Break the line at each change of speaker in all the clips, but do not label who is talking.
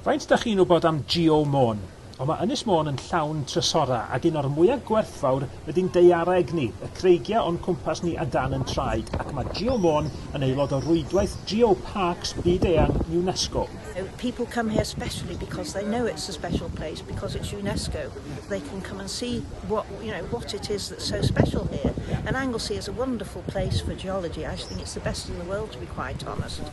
Faint dach chi'n wbod am Geo Môn? O ma Ynys Môn yn llawn trysora ag un o'r mwya gwerthfawr ydi'n daeareg ni, y creigia o'n cwmpas ni a dan yn traed ac ma Geo Môn yn aelod o rwydwaith Geo Parks byd eang UNESCO. People come
here specially because they know it's a special place because it's UNESCO they can come and see what you know what it is that's so special here and Anglesey is a wonderful place for geology I think it's the best in the world to be quite honest.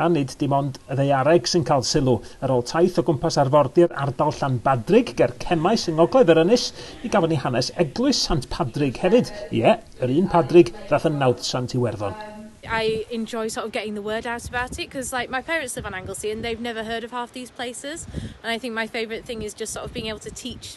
A nid
dim ond y ddaeareg sy'n cael sylw. Ar ôl taith o gwmpas arfordir ardal Llanbadrig ger Cemmaes yng ngogledd yr ynys, mi gafon ni hanes eglwys Sant Padrig hefyd, ie, yr un Padrig ddath yn nawdd Sant Iwerddon. I enjoy
sort of getting the word out about it cos like my parents live on Anglesey and they've never heard of half these places and I think my favourite thing is just sort of being able to teach